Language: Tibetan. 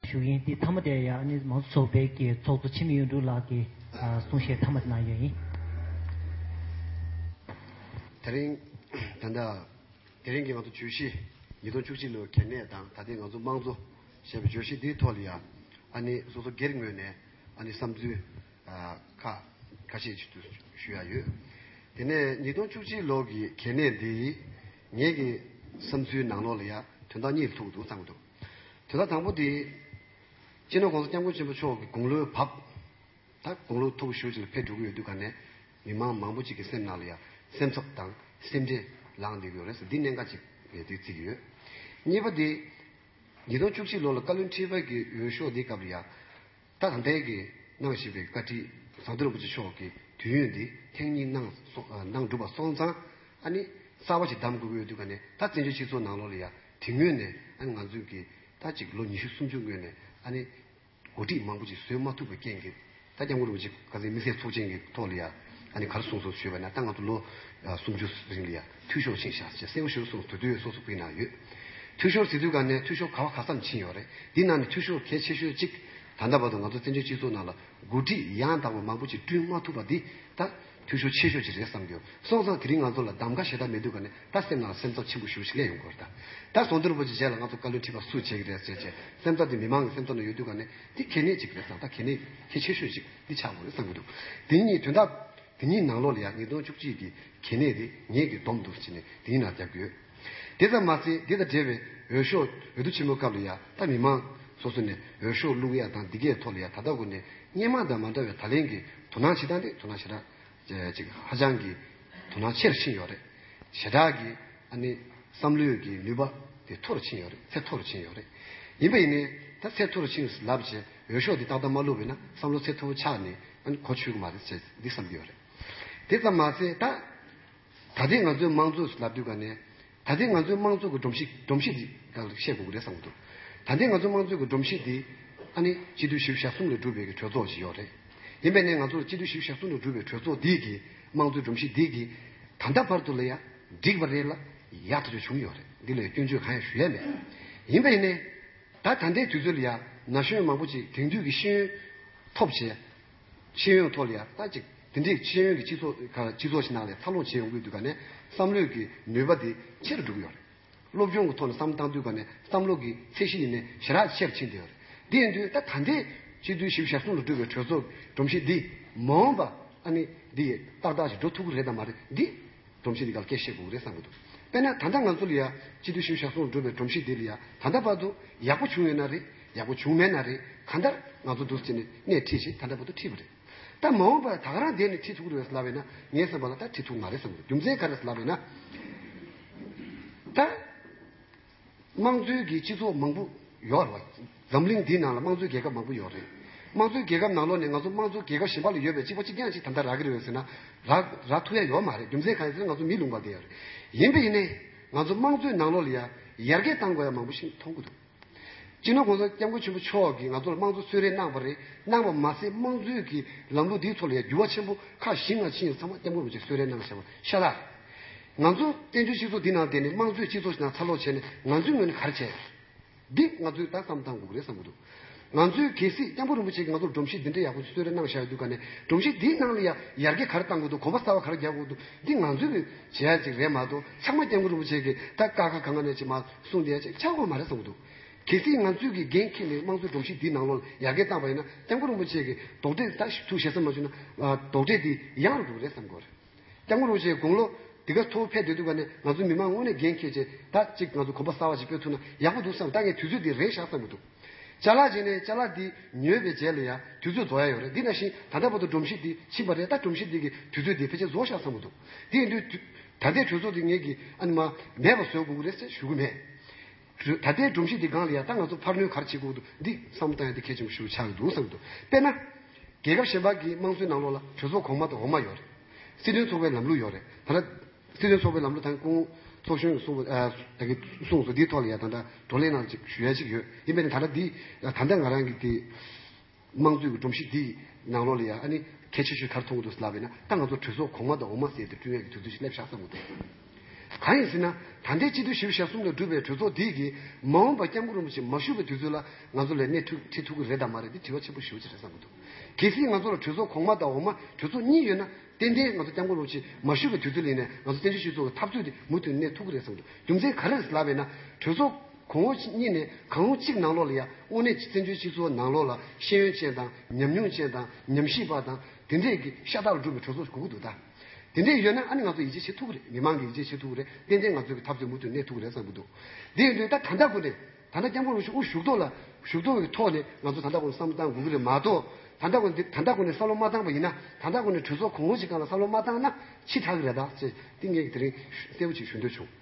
ཞུ་ཡིན་དེ་མཐའ་མ་དེ་ཡང་ནི་མང་གཙོ་ཚོགས་པའི་གི་ཚོགས་གཙོ་འཆི་མེད་གཡུ་འབྲུག་ལགས་ཀྱི་གསུང་བཤད་མཐའ་མ་དེ་གནང་ཡོད་ཡིན། དེ་རིང། ད་ལྟ། དེ་རིང་གི་ང་ཚོ་བརྗོད་གཞི། ཉིས་སྟོང་བཅུ་གཅིག་ལོའི་གལ་གནད་དང་ད་ལྟའི་ང་ཚོ་དམངས་གཙོ། ཞེས་པའི་བརྗོད་གཞི་འདིའི་ཐོག་ལ་ཡང། ཨ་ནི་སོ་སོ་སྒེར་ངོས་ནས་ཨ་ནི་བསམ་ཚུལ། ཁག་ཁ་ཤས་ཞིག་ཏུ་ཞུ་ཡ་ཡོད། དེ་ནས་ཉིས་སྟོང་བཅུ་གཅིག་ལོ་གི་གལ་གནད་འདིའི། ངེད་ཀྱི་བསམ་ཚུལ་ནང་ལོགས་ལ་ཡང་དོན་དག་གཉིས་ལྷུག་ཏུ་བརྩམས་འདུག། དེ་ལ་དང་པོ་དེ། སྤྱིར་ན ྋགོང་ས ྋསྐྱབས་མགོན་ཆེན་པོ་མཆོག་གི་དགུང་ལོའི་བབ་དང་དགུང་ལོ་ཐུག་གི་ཞོར་ཅིག་ལ་ཕེབས་འགྲོ་གི་ཡོད་དུས་ག་ནས་མི་མང་མང་པོ་ཅིག་གི་སེམས་ནང་ལ་ཡང་སེམས་འཚབ་དང་སེམས་ཁྲལ་ལངས་བསྡད་ཀྱི་ཡོད་རེད་འདི་གནད་འགག་ཅིག་རེད་དུས་ཚིག་ཡོད། གཉིས་པ་དེ། ཉིས་སྟོང་བཅུ་གཅིག་ལོ་ལ་བཀའ་བློན་ཁྲི་པ་གི་འོས་ཤོག་འདེགས་སྐབས་ལ་ཡང། དག་འབད་དགོས་གནང་ཞེས་པའི་བཀའ་ཁྲི་ཟམ་གདོང་རིན་པོ་ཆེ་མཆོག་གིས་དུས་ཡུན་འདི་ཐེངས་གཉིས་གནང་གནང་གྲུབ་པ་སོང་ཙང་ཨ་ནི་གསར་བ་ཞིག་གདམ་དགོས་ཀྱི་འོས་བསྡུ་ཁ་ནས་ད་བཙན་བྱོལ་སྤྱི་ཚོགས་ནང་ལོགས་ལ་ཡ་དེ་སྔོན་ནས་ཨ་ནི་ང་ཚོས་གི་ད་གཅིག་ལོ་ཉི་ཤུ་སུམ་ཅུ་སྔོན་ནས་ཨ་ནི་འགོ་ཁྲིད་མང་པོ་ཅིག་བཟོས་མ་ཐུབ་པའི་རྐྱེན་གི་ད་སྐྱབས་མགོན་རིན་པོ་ཆེ་ཁ་ཟས་མི་ཟས་ཚོགས་ཆེན་གི་ཐོག་ལ་ཡ་ཨ་ནི་གར་སོང་སོང་ཞུས་པ་ན་ད་ང་ཚོ་ལོ་སུམ་ཅུ་རིང་ལ་ཡ། འཐུས་ཤོར་ཕྱིན་བཞག་ཅེས་གསལ་བོ་ཞུ་གསུངས་དུས་དུས་སོགས་སུ་བུད་གནང་ཡོད། འཐུས་ཤོར་ཟེར་དུས་ག་ནས་འཐུས་ཤོར་ག་བ་ག་ཙམ་ཕྱིན་ཡོད་རེད་འདི་རྣམས་ནི་འཐུས་ཤོར་གལ་ཆེ་ཤོས་གཅིག། ད་ལྟ་བར་དུ་ང་ཚོ་བཙན་བྱོལ་སྤྱི་ཚོགས་ནང་ལ་འགོ་ཁྲིད་ཡང་དག་པ་མང་པོ་ཞིག་བསྐྲུན་མ་ཐུབ་པ་འདི་ད་འཐུས་ཤོར་ཆེ་ཤོས་གཅིག་རེད་བསམ་གྱི་ཡོད་སོང་ཙང་དེ་རིང་ང་ཚོ་ལ་གདམ་ག་བྱེད་ཐབས་མེད་དུས་ག་ནས་ད་སེམས་ནང་ལ་སེམས་ཚབ་ཆེན་པོ་ཞུ་ཞིག་ལས་ཡོང་གི་རེད་ད། ད་ཟོང་དོན་རིན་པོ་ཆེ་མཇལ་ལ་ང་ཚོ་བཀའ་བློན་ཁྲི་པ་སུ་བྱེད་ཀྱི་རེད་ཟེར་བྱས་སེམས་ཚབ་དེ་མི་མང་གི་སེམས་ཚབ་ནང་ཡོད་དུས་ག་ནས་འདི་གལ་གནད་ཅིག་རེད་བསམ་ད་གལ་གནད་གལ་ཆེ་ཤོས་གཅིག་འདི་ཆགས་འགོ་རེད་བསམ་གྱི་འདུག་དེ་ཉིད་དོན་དག་དེ་གཉིས་ནང་ལོགས་ལ་ཡང་ཉིས་སྟོང་བཅུ་གཅིག་གི་གལ་གནད་རེ་ངེས་ཀྱི་སྡོམ་འདུག་ཅེས་ནས་དེ་གཉིས་ནང་བརྒྱབ་ཡོད། དེ་ཙམ་མ་ཟད་དེ་དང་འབྲེལ་བའི་འོས་ཤོག་འོས་བསྡུ་ཆེན་མོའི་སྐབས་ལ་ཡང་ད་མི་མང་སོ་སོ་ནས་འོས་ཤོག་བླུག་ཡ་དང་འདི་གའི་ཐོག་ལ་ཡང་ད་ལྟ་གོ་ནས་སྙན་མང་དང་མ་འདྲ་བའི་ད་ལན་གྱི་དོ་སྣང་བྱེད་སྟངས་དེ་དོ་སྣང་བྱེད་སྟངས་གཅིག་ཧ་ཅང་གི་དོ་སྣང་ཆེ་རུ་ཕྱིན་ཡོད་རེད། ཞེ་དྲགས་ཀྱི་ཨ་ནི་བསམ་བློའི་གྱི་ནུས་པ་དེ་མཐོ་རུ་ཕྱིན་ཡོད་རེད་ཚད་མཐོ་རུ་ཕྱིན་ཡོད་རེད། ཡིན་པ་ཡིན་ནའི་ད་ཚད་མཐོ་རུ་ཕྱིན་ལབ་ཅེས། འོས་ཤོག་འདི་ཏག་ཏག་མ་བླུགས་པས་ན་བསམ་བློ་ཚད་མཐོ་པོ་ཆགས་ནས་ཨང་གོ་ཆོད་གི་མ་རེད་ཅེས་འདི་བསམ་གྱི་ཡོད་རེད། དེ་ཙམ་མ་ཟད་ད། ད་ལྟའི་ང་ཚོའི་མང་གཙོ་ལ་བསྡུས་པ་ནས། ད་ལྟའི་ང་ཚོའི་མང་གཙོ་གི་སྒྲོམ་གཞི་སྒྲོམ་གཞི་འདི་དག་ལ་བཤད་དགོས་ཀྱི་རེད་བསམ་གྱི་འདུག་ད་ལྟའི་ང་ཚོའི་མང་གཙོའི་གི་སྒྲོམ་གཞི་འདི། ཨ་ནི་སྤྱི་འཐུས་ཞི་བདེ་ཞག་གསུམ་ལས་གྲུབ་པའི་གི་གྲོས་ཚོགས་ཞིག་ཡོད་རེད། ཡིན་པས་ནས་ང་ཚོར་སྤྱི་འཐུས་ཞི་བདེ་ཞག་གསུམ་ལས་གྲུབ་པའི་གྲོས་ཚོགས་འདི་གི་མང་གཙོའི་སྒྲོམ་གཞི་འདི་གི། ད་ལྟ་བར་དུ་ལ་ཡ། འགྲིག་པ་རེད་ལ། ཡག་ཐག་ཆོད་བྱུང་ཡོད་རེད་འདི་ལས་སྐྱོན་བརྗོད་གང་ཡང་ཞུ་ཡ་མེད། ཡིན་པས་ནས། ད་ད་ལྟའི་དུས་ཚོད་ལ་ཡ། ན་གཞོན་མང་པོ་ཅིག་དེང་དུས་ཀྱི་ཤེས་ཡོན། ཐོབ་བྱས། ཤེས་ཡོན་ཐོག་ལ་ཡ་ལྟ་ཅིག་དེ་འདྲའི་ཤེས་ཡོན་གྱི་སྤྱི་ཚོགས་ཁ་སྤྱི་ཚོགས་ཤིག་ནང་ལས་འཚར་ལོངས་བྱས་ཡོང་གི་འདུག་ག་ནས་བསམ་བློས་ཀྱི་ནུས་པ་དེ་ཆེ་རུ་འགྲོ་གི་ཡོད་རེད། སློབ་སྦྱོང་གི་ཐོག་ནས་བསམ་བཏང་དུས་ག་ནས་བསམ་བློ་གྱི་ཚད་གཞི་ཡེ་ནས་ཞེ་དྲག་ཆེ་རུ་ཕྱིན་བསྡད་ཡོད་རེད། དེ་ཡིན་དུས་ད་ད་ལྟའི་སྤྱི་འཐུས་ཞི་བཞི་ཞག་གསུམ་ལ་བཀྲུས་པའི་གྲོས་ཚོགས་ཀྱི་སྒྲོམ་གཞི་འདིས་མ་འོངས་པ་ཨ་ནི་འདི་ཡིས་ཏག་ཏག་ཞིག་འགྲོ་ཐུབ་ཀི་རེད་དམ་མ་རེད་འདི། སྒྲོམ་གཞི་འདི་ག་ལ་སྐད་བཤད་དགོས་གི་རེད་བསམ་གྱི་འདུག་དཔེར་ན་ད་ལྟ་ང་ཚོ་ལ་ཡང་སྤྱི་འཐུས་ཤུལ་བཞག་སོགས་འགྲོ་བའི་སྒྲོམ་གཞི་འདི་ལ་ཡང་ད་ལྟ་བར་དུ་ཡག་པོ་བྱུང་ཡོད་ན་རེད་ཡག་པོ་བྱུང་མེད་ན་རེད་གང་ལྟར་ང་ཚོ་འདུ་བྱེད་ནས་སྣེ་ཁྲིད་བཞིན་ད་ལྟ་བར་དུ་ཁྲིད་པ་རེད་ད་མ་འོངས་པར་ད་ག་རང་བསྡད་ནས་ཁྲིད་ཐུབ་ཀྱི་རེད་ལབ་བས་ན་ངས་བསམ་པ་ལ་ད་ཁྲིད་ཐུབ་ཀྱི་མ་རེད་བསམ་གྱི་འདུག་རྒྱུ་མཚན་ག་རེད་ལབ་བས་ན་ད། དམངས་གཙོའི་གི་སྤྱི་ཚོགས་མང་པོ་ཡོད་རེད་བ། འཛམ་གླིང་འདིའི་ནང་ལ་དམངས་གཙོའི་རྒྱལ་ཁབ་མང་པོ་ཡོད་རེད། དམངས་གཙོའི་རྒྱལ་ཁབ་ནང་ལོགས་ནས་ང་ཚོ་དམངས་གཙོ་རྒྱལ་ཁབ་གཞན་པ་ལ་ཡོད་པའི་གཅིག་པ་གཅིག་རྐྱང་གཅིག་དམ་དྲག་རག་གི་རེད་བ་ཟེར་ན། རག་རག་ཐུབ་ཡ་ཡོད་མ་རེད་རྒྱུ་མཚན་གང་ཡིན་ཟེར་ན་ང་ཚོ་མི་ལུང་པ་དེ་ཡོད་རེད། ཡིན་པ་ཡིན་ནའི། ང་ཚོ་དམངས་གཙོའི་ནང་ལོགས་ལ་ཡ་ཡར་རྒྱས་བཏང་དགོས་ཡ་མང་པོ་ཞིག་མཐོང་གི་འདུག། སྤྱི་ནོར ྋགོང་ས ྋསྐྱབས་མགོན་ཆེན་པོ་མཆོག་གིས་ང་ཚོ་ལ་དམངས་གཙོ་གསོལ་རས་གནང་བ་རེད་གནང་བ་མ་ཟད་དམངས་གཙོའི་གི་ལམ་ལུགས་འདིའི་ཐོག་ལ་ཡ་འགྱུར་བ་ཆེན་པོ་ཁག་བཞི་ལྔ་ཕྱིན་ཡོད་ཚང་མ ྋསྐྱབས་མགོན ྋགོང་ས ྋསྐྱབས་མགོན་ཆེན་པོས་གསོལ་རས་གནང་བ་བཤད་པ་ཤ་སྟག་རེད། ང་ཚོ་བཙན་བྱོལ་སྤྱི་ཚོགས་འདི་ནང་བསྡད་ནས་དམངས་གཙོའི་སྤྱི་ཚོགས་ཤིག་ནང་འཚར་ལོག་བྱས་ནས་ང་ཚོའི་ངོས་ནས་ག་རེ་བྱས། འདི་ང་ཚོས་ད་བསམ་བསམ་འགུག་རེད་བསམ་གྱི་འདུག། ང་ཚོའི་གལ་སྲིད་སྐྱབས་མགོན་རིན་པོ་ཆེ་གིས་ང་ཚོར་སྒྲོམ་གཞི་འདི་འདྲའི་ཡག་པོ་ཞིག་གསོལ་རས་གནང་བཞག་ཡོད་འདུག་ག་ནས་སྒྲོམ་གཞི་འདིའི་ནང་ལ་ཡང་ཡར་རྒྱས་ག་རེ་བཏང་དགོས་འདུག་གོམ་པ་གསར་བ་ག་རེ་རྒྱག་དགོས་འདུག་འདི་ང་ཚོས་བྱེད་ཡག་ཅིག་རེད་མ་གཏོགས་ཚང་མ་སྐྱབས་མགོན་རིན་པོ་ཆེ་གིས་ད་བཀའ་ཁ་ག་ང་ནས་ཅིག་མ་གསུངས་དེ་ཡང་ཅིག་ཆགས་ཁོ་མ་རེད་བསམ་གྱི་འདུག། གལ་སྲིད་ང་ཚོས་ཀྱིས་འགན་ཁྱེར་ནས་དམངས་གཙོའི་སྒྲོམ་གཞི་འདིའི་ནང་ལོགས་ལ་ཡར་རྒྱས་བཏང་བ་ཡིན་ན་སྐྱབས་མགོན་རིན་པོ་ཆེ་གིས་རྡོག་ཁྲེས་ད་ཐུག་བཞེས་སམ་མ་བྱུང་ན་རྡོག་ཁྲེས་འདི་ཡང་འགྲུབ་རེད་བསམ་གྱི་རེད། སྐྱབས་མགོན་རུ་ཆེའི་དགུང་ལོ་འདི་ག་མཐོ་བོ་ཕེབས་བསྡད་འདུག་པ་ནས་ང་ཚོ་མི་མང་དངོས་གནས་འགན་འཁྱེར་ཆེད་ད་ཅིག་ང་ཚོ་གོམ་པ་གསར་བ་ཞིག་སྤོས་ཐུབ་ན་ཡག་པོ་འདུག་བསམ་ད་ངས་དུས་ཚོད་འདི་རེག་བཞག་ཙམ་གྱི་འདུག་བཅའ་ལག་བྱས་ནས་བཅའ་ལག་འདི་ཉོས་པའི་རྗེས་ལ་ཡང་དུས་ཚོད་རྫོགས་ཡ་ཡོད་རེད་འདི་ན་བཞིན་ད་ལྟ་བར་དུ་སྒྲོམ་གཞི་འདི་ཕྱིན་པ་རེད་ད་སྒྲོམ་གཞི་འདི་གི་དུས་ཚོད་འདི་ཕལ་ཆེར་རྫོགས་བཞག་བསམ་གྱི་འདུག་དེ་ཡིན་དུས་ད་ལྟའི་གྲོས་ཚོགས་འདི་ངེད་ཀྱིས་ཨ་ནི་མ་མེད་པ་བཟོས་དགོས་ཀྱི་རེད་ཟེར་ཞུ་གི་མེད། ད་ལྟའི་སྒྲོམ་གཞི་འདི་སྒང་ལ་ཡང་ད་ང་ཚོ་འཕར་སྣོན་གར་བྱེད་ཁུག་ཏུ་འདི་བསམ་བཏང་ཡང་འདི་གལ་ཆེན་པོ་ཞིག་ཏུ་ཆགས་ཀྱི་འདུག་བསམ་འདུག་དཔེར་ན། རྒྱལ་ཁབ་གཞན་པ་གི་དམངས་གཙོའི་ནང་ལོགས་ལ་གྲོས་ཚོགས་གོང་མ་དང་འོག་མ་ཡོད་རེད། སྲིད་དོན་ཚོགས་པའི་ལམ་ལུགས་ཡོད་རེད་ད། སྲིད་དོན་ཚོགས་པའི་ལམ་ལུགས་དང་ཀུན། ཚོགས་གཞོན་གྱིས་གསུངས་པ། ད་གིས་གསུངས་སོ་འདིའི་ཐོག་ལ་ཡང་ད་ལྟ་བགྲོ་གླེང་གནང་ཅིག་ཞུ་ཡ་ཞིག་ཡོད་ཡིན་པས་ན་ད་ལྟ་འདི། ད་ལྟ་ང་རང་གིས་དེ། དམངས་གཙོའི་སྒྲོམ་གཞི་འདི་ཡི་ནང་ལོགས་ལ་ཡང་ཨ་ནི་གལ་ཆེ་ཤོས་གར་མཐོང་གི་འདུག་ལབ་པས་ན་ད་ང་ཚོ་གྲོས་ཚོགས་གོང་མ་དང་འོག་མ་ཟེར་ཏེ་བསྐྲུན་ཡག་གི་དུས་ཚོད་ཅིག་སླེབས་ཤག་བསམ་གི་འདུག་གང་ཡིན་ཟེར་ན་ད་ལྟའི་སྤྱི་འཐུས་བཞི་བརྒྱ་ཞག་གསུམ་ལ་གྲུབ་པའི་གྲོས་ཚོགས་འདི་ཡི་མ་འོངས་པ་སྐྱབས་མགོན་རིན་པོ་ཆེ་མ་བཞུགས་པའི་དུས་ཚོད་ལ་ང་ཚོ་ལས་སྣེ་ཁྲིད་ཐུབ་ཀི་རེད་དམ་མ་རེད་འདི་དྲི་བ་ཆེན་པོ་ཞུ་ཆེད་རེད་བསམ་གི་འདུག་གལ་སྲིད་ང་ཚོ་ལ་གྲོས་ཚོགས་གོང་མ་དང་འོག་མ་གྲོས་ཚོགས་གཉིས་ཡོད་ན་ཏན་ཏན་ང་ཚོ་སྐྱབས་མགོན་རིན་པོ་ཆེ་མ་བཞུགས་པའི་དུས་ཚོད་ལིང་ནས་ང་ཚོ་བཙན་བྱོལ་སྤྱི་ཚོགས་ཀྱི་འཐབ་རྩོད་འདི་མུ་མཐུད་གནས་ཐུབ་ཀི་རེད་བསམ་གི་འདུག་རྒྱུ་མཚན་ག་རེ་རེད་ལབ་པས་ན་གྲོས་ཚོགས། གོང་འོག་གཉིས་ནས་གང་རུང་གཅིག་ནང་ལོགས་ལ་ཡང་དབུ་ནས་ཀྱི་བཙན་བྱོལ་སྤྱི་ཚོགས་ནང་ལོགས་ལ་ཤེས་ཡོན་ཅན་དང་ཉམས་མྱོང་ཅན་དང་ཉམས་ཞིབ་པ་དང་དེ་འདྲས་ཀྱི་ཤ་སྟག་ལ་སྒྲུབ་པའི་གྲོས་ཚོགས་གུག་འདུག་ད། དེ་འདྲས་ཡོད་ན་ཨ་ནི་ང་ཚོ་ཡིད་ཆེས་བྱེད་ཐུག་གི་རེད་མི་མང་གི་ཡིད་ཆེས་བྱེད་ཐུག་གི་རེད་ཏན་ཏན་ང་ཚོའི་གི་འཐབ་རྩོད་མུ་མཐུད་གནས་ཐུག་གི་རེད་བསམ་གི་འདུག་དེ་ཡིན་དུས་ད་ད་ལྟ་གོ་ནས་ད་ལྟ་སྐྱབས་མགོན་རུ་ཤུ་དབུ་བཞུགས་ཐོག་ལ་བཞུགས་ཐོག་གི་ཐོག་ནས་ང་ཚོ་ད་ལྟ་གོ་ནས་བསམ་བློ་བཏང་དགོས་ཀྱི་རེད་མ་གཏོགས་ད་ལྟ་གོ་ནས་འདི་ད་ལྟ་གོ་ནས་བསམ་བློ་མ་བཏང་པ་ཡིན་ན་ད་ལྟ་གོ་ནས་གྲོས་ཚོགས་གོང་འོག་གཅིག་གང་ལ་བསམ་བློ་མ་བཏང་ན་ཕྱི་དྲག་གི་རེད་ད། ཅེས་ཏིང་ངེ་གིས་དེ་རིང་གསལ་བོ་ཞིག་ཞུ་འདོད་བྱུང།